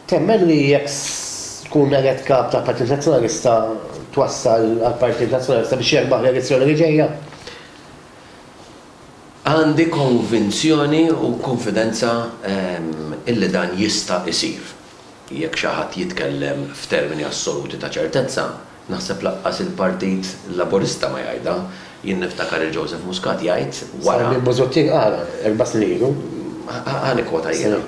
Temmen li jekk tkun elett Kap tal-Partit Nazzjonalista twassal għall-Partit Nazzjonalista biex jerbaħ l-elezzjoni li ġejja? Għandi konvinzjoni u kunfidenza illi dan jista' jsir. Jekk xi ħadd jitkellem f'termini assoluti ta' ċertezza, Naħseb lanqas il-Partit Laburista ma jgħidha. Jien niftakar lil Joseph Muscat jgħid wara. Sabiħ Busuttil qalha erba' snin ilu. Ħa nikkwota jiena.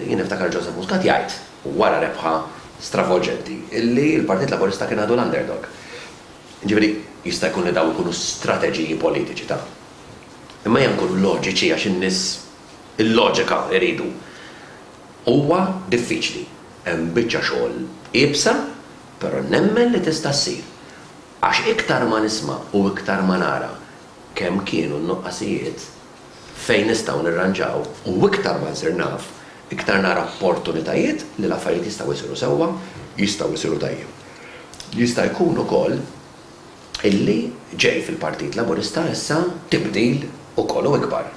Jien niftakar lil Joseph Muscat jgħid wara rebħa stravolġenti li l-Partit Laburista kien għadu l-underdog. Jiġifieri jista' jkun li dawn ikunu strateġiji politiċi ta'. Imma ejja nkunu loġiċi għax in-nies il-loġika jridu. Huwa diffiċli. Hemm biċċa xogħol iebsa Però nemmen li tista' ssir. Għax iktar ma nisma' u iktar ma nara kemm kienu n-nuqqasijiet, fejn nistgħu nirranġaw u iktar ma nsir naf, iktar nara opportunitajiet li l-affarijiet jistgħu jsiru sewwa, jistgħu jsiru tajjeb. Jista' jkun ukoll illi ġej fil-Partit Laburista issa tibdil ukoll u ikbar.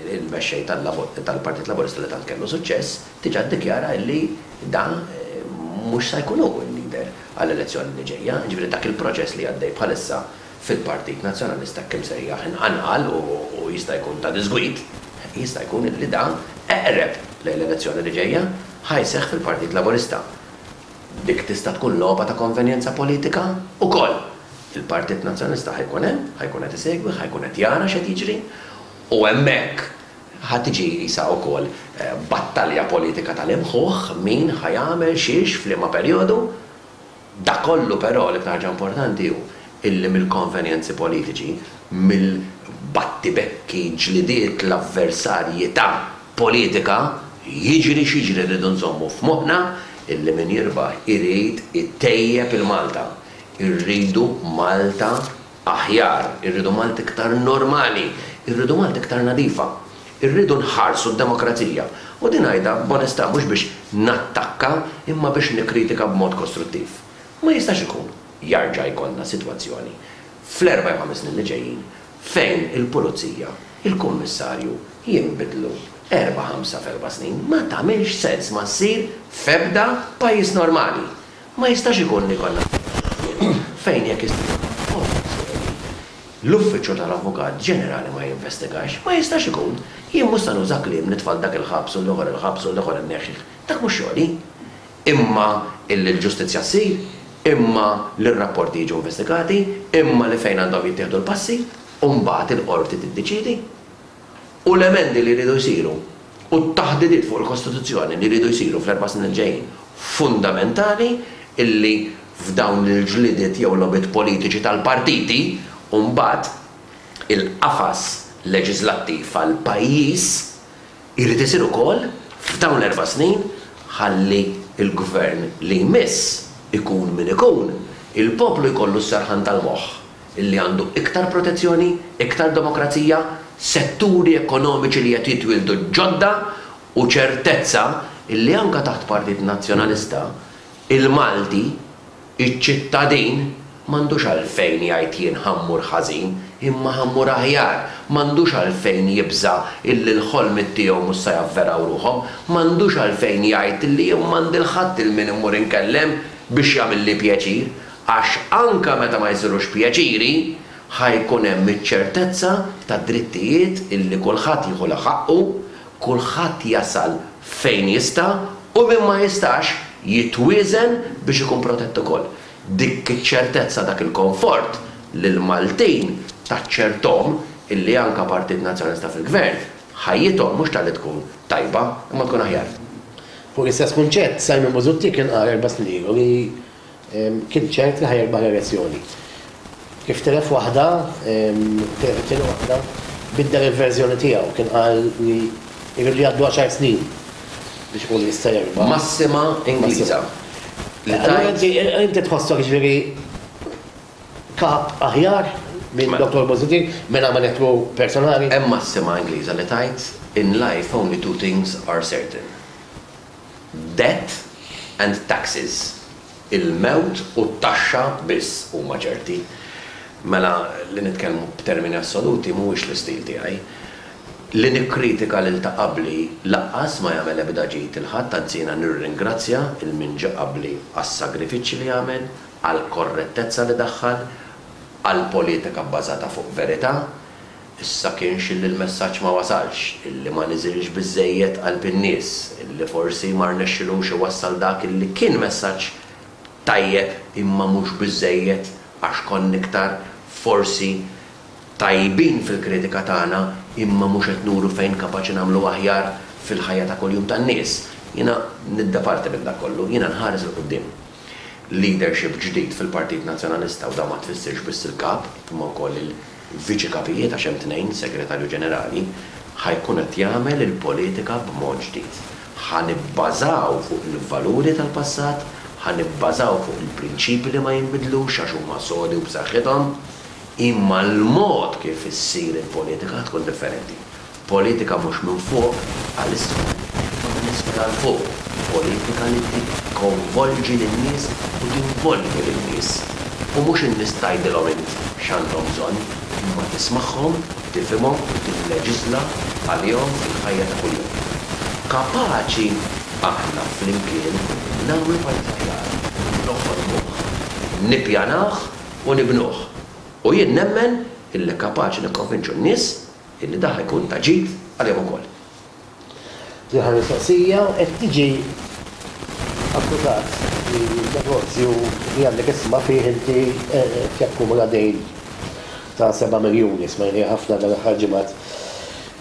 Il-Mexxej tal-Partit Laburista li tant kellu suċċess diġà ddikjara illi dan mhux sa jkun hu l-leader għall-elezzjoni li ġejja, jiġifieri dak il-proċess li għaddej bħalissa fil-Partit Nazzjonalista hekk imsejjaħ inqanqal u jista' jkun ta' diżgwid, jista' jkun illi dan eqreb lejn l-elezzjoni li ġejja ħa jseħħ fil-Partit Laburista. Dik tista' tkun logħba ta' konvenjenza politika wkoll Fil-Partit Nazzjonalista ħa jkun hemm, ħa jkun qed isegwi, ħa jkun qed jara x'qed jiġri u hemmhekk ħa tiġi qisha wkoll battalja politika tal-imħuħ min ħa jagħmel xiex f'liema perjodu. Dak kollu però l-iktar ħaġa importanti hu illi mill-konvenjenzi politiċi, mill-battibekki, ġlidiet, l-avversarji ta' politika, jiġri x'jiġri rridu nżommu f'moħħna illi min jirbaħ irid itejjeb il-Malta. Irridu Malta aħjar, irridu Malta iktar normali, irridu Malta iktar nadifa. Irridu nħarsu d-demokrazija. U din ngħidha b'onestà mhux biex nattakka imma biex nikkritika b'mod kostruttiv. Ma jistax ikun jarġa' jkollna sitwazzjoni fl-erba' jew ħames snin li ġejjin fejn il-Pulizija, il-Kummissarju jinbidlu erba' ħamsa f'erba' snin. Ma tagħmilx sens, ma ssir f'ebda pajjiż normali. Ma jistax ikun li jkollna sitwazzjoni fejn jekk issir xi operazzjoni, l-Uffiċċju tal-Avukat Ġenerali ma jinvestigax. Ma jistax ikun. Jien mhux se nuża kliem nitfa' 'l dak il-ħabs u 'l ieħor il-ħabs u 'l ieħor inneħħih. Dak mhux xogħli. Imma li l-ġustizzja ssir, imma li r-rapporti jiġu investigati, imma li fejn għandhom jittieħdu l-passi, u mbagħad il-Qorti tiddeċiedi. u l-emendi li jridu jsiru u t-taħdidiet fuq il-Kostituzzjoni li jridu jsiru fl-erba' snin li ġejjin fundamentali illi f'dawn il-ġlidiet jew logħbiet politiċi tal-partiti u mbagħad il-qafas leġiżlattiv għall-pajjiż irid isir ukoll f'dawn l-erba' snin ħalli l-Gvern li jmiss ikun min ikun, il-poplu jkollu s-serħan tal-moħħ. li għandu iktar protezzjoni, iktar demokrazija, setturi ekonomiċi li qed jitwieldu ġodda u ċertezza li anke taħt Partit Nazzjonalista, il-Malti, iċ-ċittadin, m'għandux għalfejn jgħid jien ħa mmur ħażin, imma ħa mmur aħjar, m'għandux għalfejn jibża' illi l-ħolmiet tiegħu mhux se javveraw ruħhom, m'għandux għalfejn jgħid li jien m'għandi 'l ħadd 'il min immur inkellem biex jagħmilli pjaċir. Għax anke meta ma jsirux pjaċiri, ħa jkun hemm iċ-ċertezza tad-drittijiet illi kulħadd jieħu la ħaqqu, kulħadd jasal fejn jista' u min ma jistax jitwieżen biex ikun protett ukoll. Dik iċ-ċertezza, dak il-konfort lill-Maltin taċċerthom illi anke Partit Nazzjonalista fil-Gvern, ħajjithom mhux talli tkun tajba, imma tkun aħjar. Fuq l-istess kunċett, Simon Busuttil kien qal erba' snin ilu li, Kien ċert li ħa jirbaħ l-elezzjoni. Kif tilef waħda, tilef it-tieni waħda, biddel il-verżjoni tiegħu. Kien qal li jridu jgħaddu għaxar snin biex ikun jista' jirbaħ. Massima Ingliża li tgħid. Allura inti tħossok jiġifieri kap aħjar minn Dottor Busuttil mingħajr ma neħħlu personali? Hemm massima Ingliża li tgħid, In life only two things are certain. Death and taxes, il-mewt u t-taxxa biss huma ċerti. Mela, li nitkellmu b'termini assoluti mhuwiex l-istil tiegħi. Li nikkritika lil ta' qabli lanqas ma jagħmel ebda ġid lil ħadd, anzi jiena nirringrazzja lil min ġie qabli għas-sagrifiċċji li għamel, għall-korrettezza li daħħal, għall-politika bbażata fuq verità. Issa kienx illi l-messaġġ ma wasalx, illi ma niżilx biżżejjed qalb in-nies, illi forsi ma rnexxilux iwassal dak illi kien messaġġ tajjeb imma mhux biżżejjed għax konna iktar forsi tajbin fil-kritika tagħna imma mhux qed nuru fejn kapaċi nagħmlu aħjar fil-ħajja ta' kuljum tan-nies. Jiena nidda parti minn dak kollu. Jiena nħares 'il quddiem leadership ġdid fil-Partit Nazzjonalista u dan ma tfissirx biss il-Kap imma wkoll Viċi Kapijiet, għax hemm tnejn, Segretarju Ġenerali, ħa jkun qed jagħmel il-politika b'mod ġdid. Ħa nibbażaw fuq il-valuri tal-passat, ħa nibbażaw fuq il-prinċipji li ma jinbidlux għax huma sodi u b'saħħithom, imma l-mod kif issir il-politika ħa tkun differenti. Politika mhux minn fuq għal isfel, imma minn isfel għal fuq, politika li tikkonvolġi lin-nies u tinvolvi lin-nies. U mhux in-nies tgħidilhom int x'għandhom bżonn, imma tismagħhom, tifhimhom u tilleġiżla għalihom fil-ħajja ta' kuljum. Kapaċi aħna flimkien nagħmlu pajjiż aħjar, noħolmuh, nippjanah u nibnuh. U jien nemmen illi kapaċi nikkonvinċu n-nies Illi dan ikun ta' ġid għalihom ukoll. L-aħħar mistoqsija, qed tiġi akkużat li n-negozju li għandek is-sma fih inti qed jakkumula dejn ta' seba' miljuni, smajniha ħafna dan l-aħħar ġimgħat.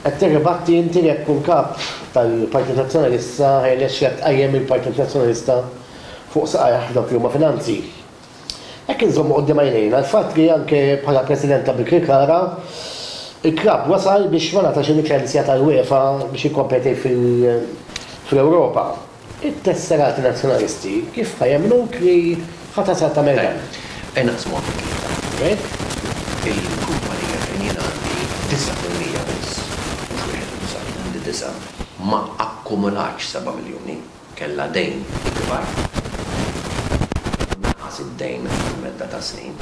Qed tirribatti inti li qed tkun Kap tal-Partit Nazzjonalista ħa jirnexxilek tqajjem il-Partit Nazzjonalista fuq saqajh f'dawk li huma finanzi. Hekk inżommu quddiem għajnejna l-fatt li anke bħala President ta' Birkirkara, il-klabb wasal biex ma ngħatax il-liċenzja tal-UEFA biex jikkompeti fl-Ewropa. It-tesserati Nazzjonalisti kif ħa jemmnuk li ħa tasal tagħmel dan? Ejja naqsmuha fi tlieta. Ġej. Il-kumpanija fejn jien għandi disa' fil-mija biss, mhux wieħed u disgħin, għandi disa', ma akkumulatx seba' miljuni. kellha dejn ikbar u naqas id-dejn għal medda ta' snin.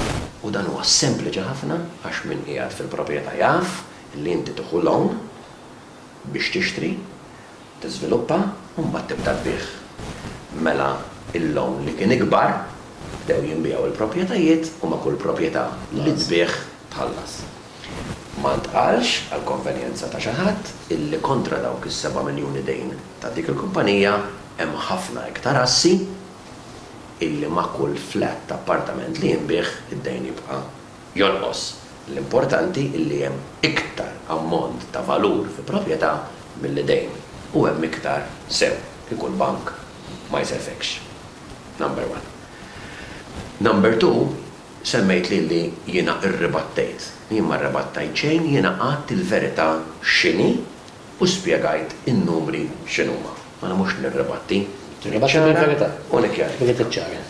U dan huwa sempliċi ħafna għax min qiegħed fil-proprjetà jaf li inti tieħu loan biex tixtri, tiżviluppa u mbagħad tibda tbigħ. Mela l-loan li kien ikbar bdew jinbiegħu l-proprjetajiet u ma' kull proprjetà li tbigħ tħallas. Ma ntqalx, għall-konvenjenza ta' xi ħadd, illi kontra dawk is-seba' miljuni dejn Ta' dik il-kumpanija hemm ħafna iktar assi illi ma' kull flat ta' appartament li jinbiegħ id-dejn jibqa' jonqos. L-importanti illi hemm iktar ammont ta' valur fi proprjetà milli dejn u hemm iktar sew kieku l-bank ma jsellfekx. Number one. Number two, semmejtli illi jiena rribattejt. Jien ma rribattajt xejn, jiena għedt il-verità x'inhi U spjegajt in-numri x'inhuma. Mela mhux nirribatti. Nirribatti ċara. Ngħid il-verità. U nikkjarifika. Irrid iċċara.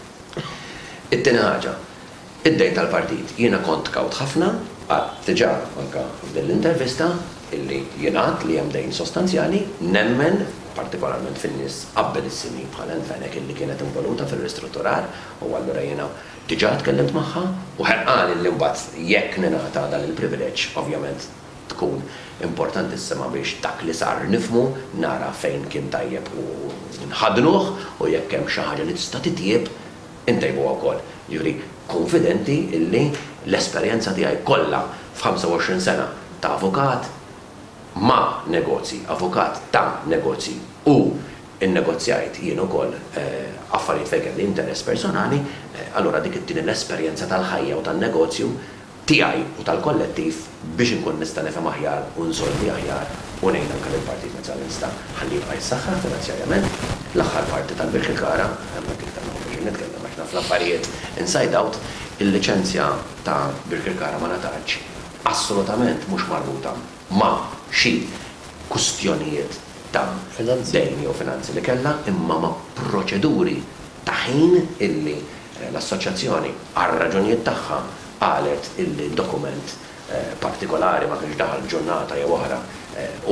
It-tieni ħaġa, id-dejn tal-partit. Jiena kont kawt ħafna, għedt diġà anke f'din l-intervista illi jingħad li hemm dejn sostanzjali, nemmen partikolarment fin-nies abbilissimi bħal Anne Fenech illi kienet involuta fir-ristrutturar u allura jiena diġà tkellimt magħha u ħerqan illi mbagħad jekk ningħata dan il-privileġġ ovvjament Tkun importantissima biex dak li sar nifhmu, nara fejn kien tajjeb u nħaddnuh u jekk hemm xi ħaġa li tista' titjieb, intejbuha wkoll. Jiġifieri kunfidenti illi l-esperjenza tiegħi kollha f'ħamsa-u-għoxrin sena ta' avukat ma' negozji, avukat ta' negozji u nnegozjajt jien ukoll affarijiet fejn kelli interess personali, allura dik it-tieni l-esperjenza tal-ħajja u tan-negozju, tiegħi u tal-kollettiv biex inkun nista' nifhem aħjar u nsolvi aħjar u ngħin anke lill-Partit Nazzjonalista ħalli jibqa' jissaħħaħ finanzjarjament. L-aħħar parti tal-Birkirkara, hemmhekk iktar ma nkunx qed nitkellem għax naf l-affarijiet inside out, il-liċenzja ta' Birkirkara ma ngħatatx assolutament mhux marbuta ma' xi kwistjonijiet ta' dejn jew finanzi li kellha imma ma' proċeduri ta' ħin illi l-Assoċjazzjoni, għar-raġunijiet tagħha, qalet illi dokument partikolari ma kienx daħal f'ġurnata jew oħra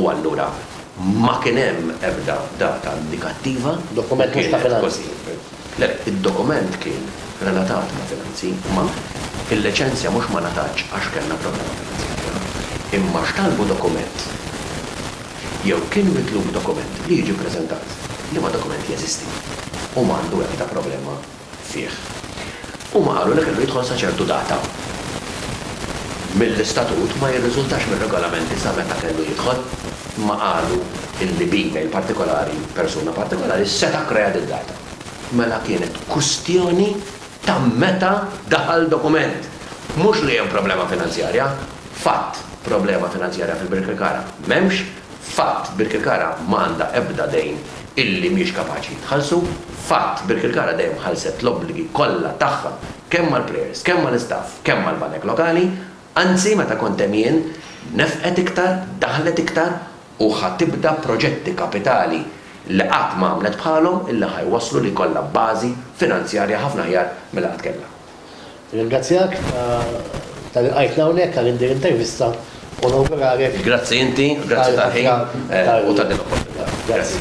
u allura ma kien hemm ebda data indikattiva li kienet kważi. Le, le, id-dokument kien relatat ma' finanzi, imma il-liċenzja mhux ma ngħatatx għax kellna problema finanzjarja, imma x'talbu dokument jew kien mitlub dokument li jiġi ppreżentat, liema dokument jeżisti u ma għandu ebda problema fih. Huma qalu li kellu jidħol sa ċertu data. Mill-istatut ma jirriżultax mir-regolamenti sa meta kellu jidħol, imma qalu li b'email partikolari persuna partikolari seta' kkrea did-data. Mela kienet kwistjoni Ta' meta daħal dokument. Mhux li hemm problema finanzjarja. Fatt, problema finanzjarja fil-Birkirkara m'hemmx. Fatt, Birkirkara ma għandha ebda dejn illi mhix kapaċi tħallsu. Fatt, Birkirkara dejjem ħallset l-obbligi kollha tagħha kemm mal-plejers, kemm mal-istaff, kemm mal-banek lokali. Anzi, meta kont hemm jien, nefqet iktar, daħlet iktar u ħa tibda proġetti kapitali li qatt ma għamlet bħalhom illi ħa jwasslu li jkollha bażi finanzjarja ħafna aħjar milli qatt kellha. Nirringrazzjak ta' lilqajtna hawnhekk għal din l-intervista u nawguralek. Grazzi inti, grazzi tal-ħin u ta' din l-opportunità. Grazzi.